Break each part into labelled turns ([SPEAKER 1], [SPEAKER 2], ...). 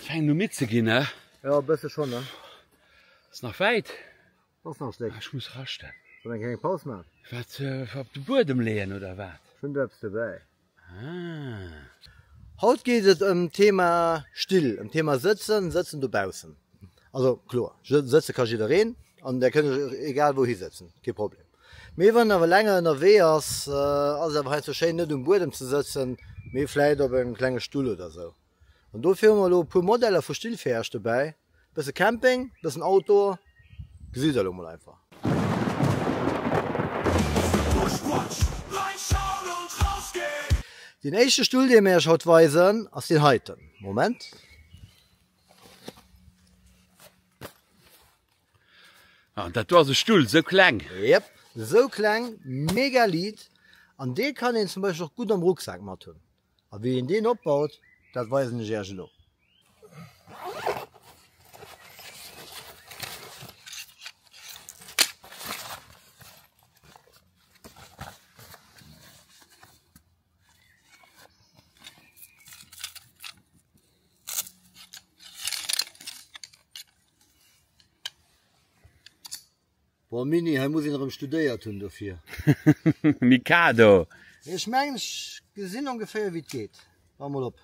[SPEAKER 1] Fänken un midd ze ginn ne? Jo e bësse schonn ne.
[SPEAKER 2] Ass nach
[SPEAKER 1] wäit? Ass nach e Stéck.
[SPEAKER 2] Ech muss raschten.
[SPEAKER 1] Soll eng kleng Paus
[SPEAKER 2] man? Wat op de
[SPEAKER 1] Buedem leeën oder wat? Ech hunn do eppes dobäi. Ah.
[SPEAKER 2] Haut geet et ëm d'Thema Still, ëm d'Thema Sëtzen, Sëtzen dobaussen. Also kloer, sëtze ka jiddereen an där kënnt egal wou hisëtzen, kee Problem. Mee wann een awer länger ënnerwee ass, ass et awer heiansdo schéin net um Buedem ze sëtzen, mee vläit op engem klenge Stull oder esou. An dofir hu mer elo e puer Modeller vu Still fir Iech dobäi. Bësse Camping, bëssen Outdoor, gesitt der elo mol einfach. Deen éischte Stull dee mer Iech haut weisen ass deen heiten. Moment.
[SPEAKER 1] An dat war se Stull, sou kleng. Yep, sou
[SPEAKER 2] kleng, mega liit an dee kann een zum Beispill och gutt am Rucksak mat hunn. A wéi een deen opbaut, dat weisen ech Iech elo. Boah, Mini, hei muss een erëm studéiert hunn dofir. Mikado!
[SPEAKER 1] Ech
[SPEAKER 2] mengen, ech gesinn ongeféier, wéi et geet. Wa mol op.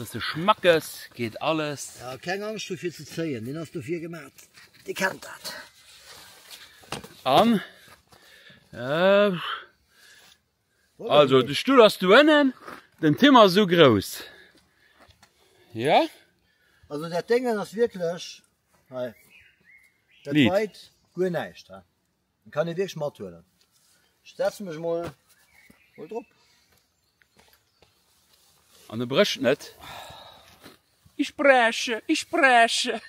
[SPEAKER 1] Bisse schmackes geht alles. Ja, keng Angst dofir
[SPEAKER 2] ze zéien, Den ass dofir gemat. Di kennt dat. An
[SPEAKER 1] äh, Also de Stull ass do ënnen, den Tim ass esou grouss. Ja.
[SPEAKER 2] Also dat Déngen ass wierklech hei. Dat Liit. weit
[SPEAKER 1] guer näischt
[SPEAKER 2] ha. Den kann ee wierklech mathuelen. Ech setze mech mol mol drop.
[SPEAKER 1] An e brécht net. Ich breche, ich breche.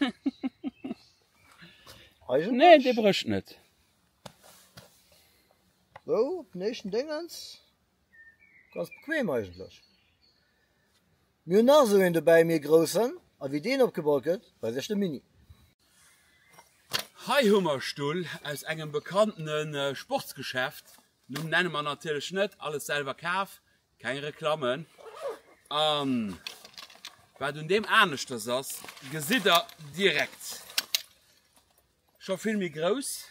[SPEAKER 1] Eigentlech. Nee, dee brécht net.
[SPEAKER 2] So, op den éischten Déngens, ganz bequem eigentlech. Mir hunn nach esou een dobäi, méi e groussen, a wéi deen opgebaut gëtt, weise ech de Mini. Hei
[SPEAKER 1] hu mer Stull aus engem bekanntenen Sportsgeschäft, Numm nenne mer natierlech net, alles selwer kaf, keng Reklammen. An wat un deem aneschters ass, gesitt der direkt. Scho vill méi grouss.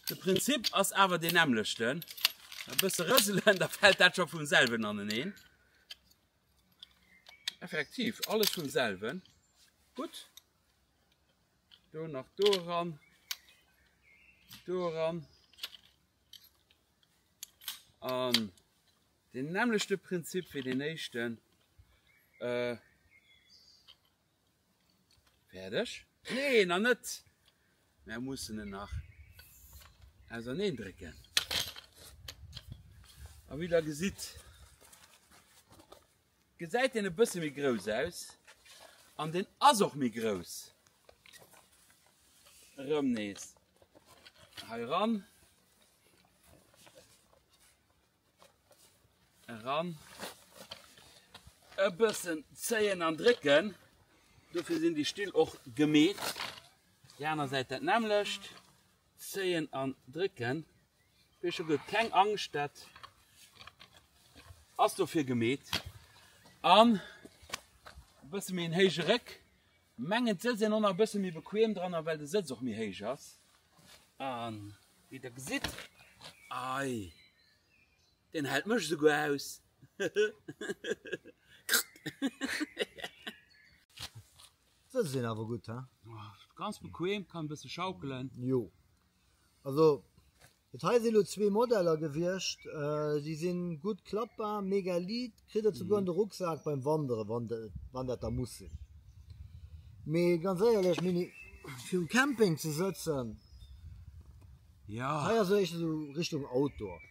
[SPEAKER 1] De Prinzip ass awer deen nämmlechten. E bësse rëselen, da fält dat scho vum selwen aneneen. Effektiv, alles vum selwen. Gutt. Do nach do ran. Do ran. An den nämmlechte Prinzip wéi den éischten. Äh, Fäerdeg? Nee, nach net! Mär mussen en nach auserneen drécken. A wéi der gesitt, gesäit en e bësse méi grouss aus. An deen ass och méi grouss. Erëm nees heiran. Eran. E bëssen zéien an drécken. Dofir sinn déi Still och gemeet. Déi aner Säit dat nämmlecht. Zéien an drécken. Wéi scho gesot, keng Angscht, dat ass dofir gemeet. An e bësse méi en héije Réck. Mengen d'Sëtz sinn och nach e bësse méi bequem dran a well de Sëtz och méi héich ass. An wéi der gesitt, ei deen hält mech esouguer aus.
[SPEAKER 2] D'Sëtz sinn awer gutt, he? Ganz bequem,
[SPEAKER 1] kann e bësse schaukelen. Jo,
[SPEAKER 2] also Dat hei sinn elo zwee Modeller gewiescht, déi si gutt klappbar, mega liit, kritt der souguer an de Rucksak beim Wanderen, wann de, wann dat da muss sinn. Mee ganz éierlech, Mini, fir um Camping ze sëtzen,
[SPEAKER 1] Ja. hei ass éischter esou
[SPEAKER 2] Richtung Outdoor.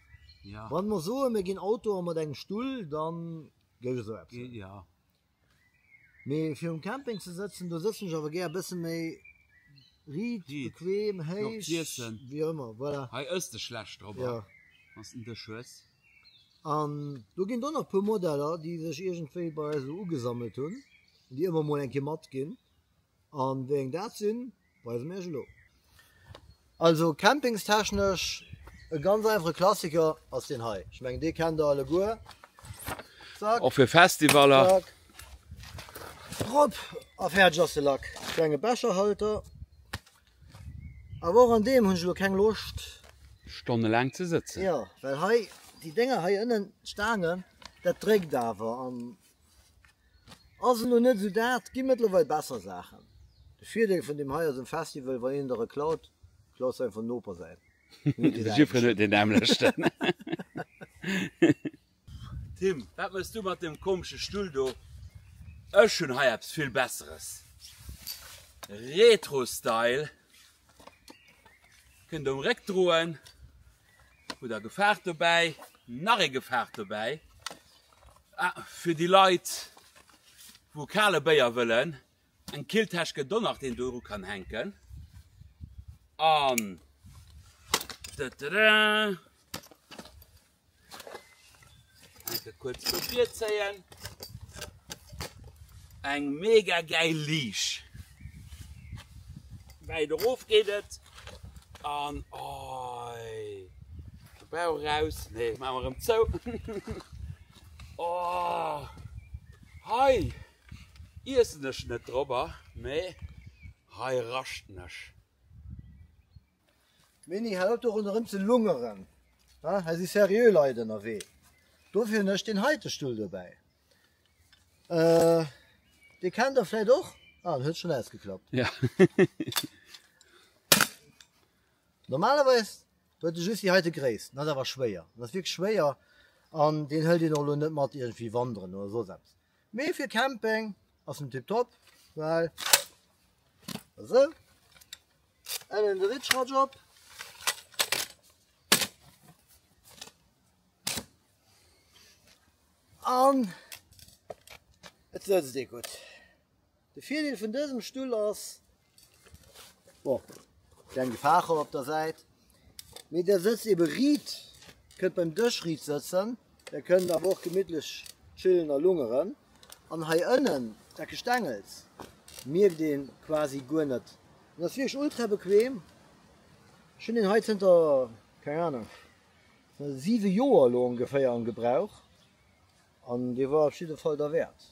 [SPEAKER 2] Ja. Wann mer
[SPEAKER 1] soen, mir ginn
[SPEAKER 2] Outdoor mat engem Stull, dann géif esou eppes. Géif, ja. Mee fir um Camping ze sëtzen, do sëtzen ech awer gär e bësse méi riit, bequem,
[SPEAKER 1] héich,
[SPEAKER 2] wéi och ëmmer,
[SPEAKER 1] voilà.
[SPEAKER 2] Hei ëss de schlecht drop
[SPEAKER 1] an, wann s de en
[SPEAKER 2] Dësch
[SPEAKER 1] hues. An
[SPEAKER 2] do ginn do nach e puer Modeller, déi sech iergendwéi bei eis esou ugesammelt hunn, déi ëmmer mol eng Kéier matginn. An wéi eng dat sinn, weisen mir iech elo. Also campingstechnesch e ganz einfache Klassiker ass deen hei. Ech mengen dee kennt der alleguer. Zack. Och fir Festivaller.
[SPEAKER 1] Zack.
[SPEAKER 2] Drop a fäerdeg ass de Lack. Klenge Becherhalter. Awer och an deem hunn ech elo keng Loscht. Stonnelaang
[SPEAKER 1] ze sëtzen. Jo, well hei
[SPEAKER 2] déi Dénger hei ënnen, d'Staangen, dat dréckt awer an. Ass elo net esou dat, gi mëttlerweil besser Saachen. De Virdeel vun deem hei ass um Festival, wann een der e klaut, klaus einfach den Noper säin. De Siegfried
[SPEAKER 1] huet een nämlechten. Tim, wat méchs du mat deem komesche Stull do? Ech hunn hei eppes vill Besseres. Retro-Style. Kënnt um Réck droen. Hutt der gefaart dobäi? Nach ee gefaart dobäi. Ah, fir déi Leit, wou kale Béier wëllen, eng Killtäsch gëtt do nach, déi een do eru kann hänken. An da da da. Enke kuerz do virzéien. Eng mega geil Liisch. Wäit erof geet et. An oi. De Bauch eraus. Nee, maache mer erëm zou. Oh. Hei iessen ech net drop, mee hei raschten ech.
[SPEAKER 2] Mini hei op do ronderem ze lungeren ha hei si serieux Leit ënnerwee dofir hun ech den heite Stull dobäi euh dee kennt der vläit och ah den huet schon ausgeklappt ja normalerweis huet de just déi heite Gréisst an ass awer schwéier an ass wierklech schwéier an deen hëlt een och elo net mat iergendwéi wanderen oder soss eppes Mee fir Camping ass en tiptop, well esou, ennen de Ritschratsch op, an et sëtzt ee gutt. De Virdeel vun dësem Stull ass, Bon, klein Gefacher op der Säit. Mee der sëtzt ebe riit, kënnt beim Dësch riit sëtzen, der kënnt awer och gemittlech chillen a lungeren. An hei ënnen, dat Gestengels, mierkt ee quasi guer net. En ass wierklech ultra bequem. Ech hunn deen hei zënter, keng Ahnung, siwe Joer elo ongeféier am Gebrauch an dee war op jidde Fall derwäert.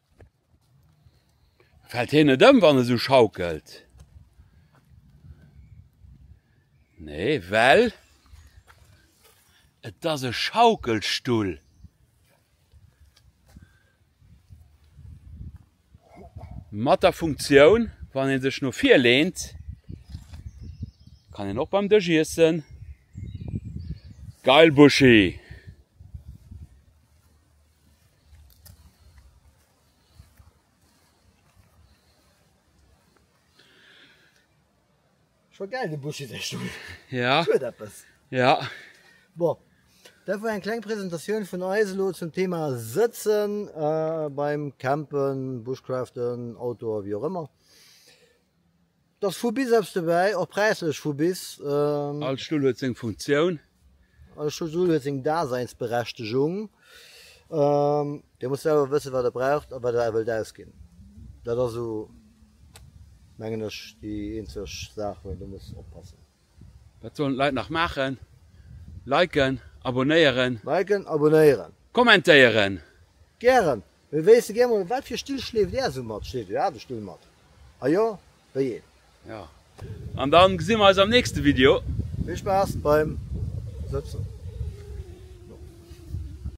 [SPEAKER 1] Fällt hien net ëm wann e sou schaukelt? Nee well et ass e Schaukelstull. Mat der Funktioun wann een sech no vir leent kann een och beim Dësch iessen. Geil Buschi!
[SPEAKER 2] Schon geil de Buschi sech Stull. Ja. Huet eppes. Ja.
[SPEAKER 1] Bon.
[SPEAKER 2] Dat war eng kleng Präsentatioun vun eis elo zum Thema Sëtzen äh, beim Campen, Bushcraften, Outdoor, wéi och ëmmer. 't ass vu bis eppes dobäi, och präislech vu bis. All Stull
[SPEAKER 1] huet seng Funktioun. All
[SPEAKER 2] Stull huet seng Daseinsberechtegung. Dir musst selwer wëssen, wat Der braucht a wat Der wëllt ausginn. Dat ass esou, mengen ech, déi eenzeg Saach, wou een do muss oppassen. Wat sollen
[SPEAKER 1] d'Leit nach maachen? Liken, abonnéieren. Liken, abonnéieren.
[SPEAKER 2] Kommentéieren.
[SPEAKER 1] Gären.
[SPEAKER 2] Mee wéisste gär mol, wat fir Still schleeft är esou mat? Schleeft dir aarde Still mat? A jo, wéi
[SPEAKER 1] een?
[SPEAKER 2] Jo. An dann
[SPEAKER 1] gesi
[SPEAKER 2] mer eis am
[SPEAKER 1] nächste Video. Vill
[SPEAKER 2] Spaass beim Sëtzen.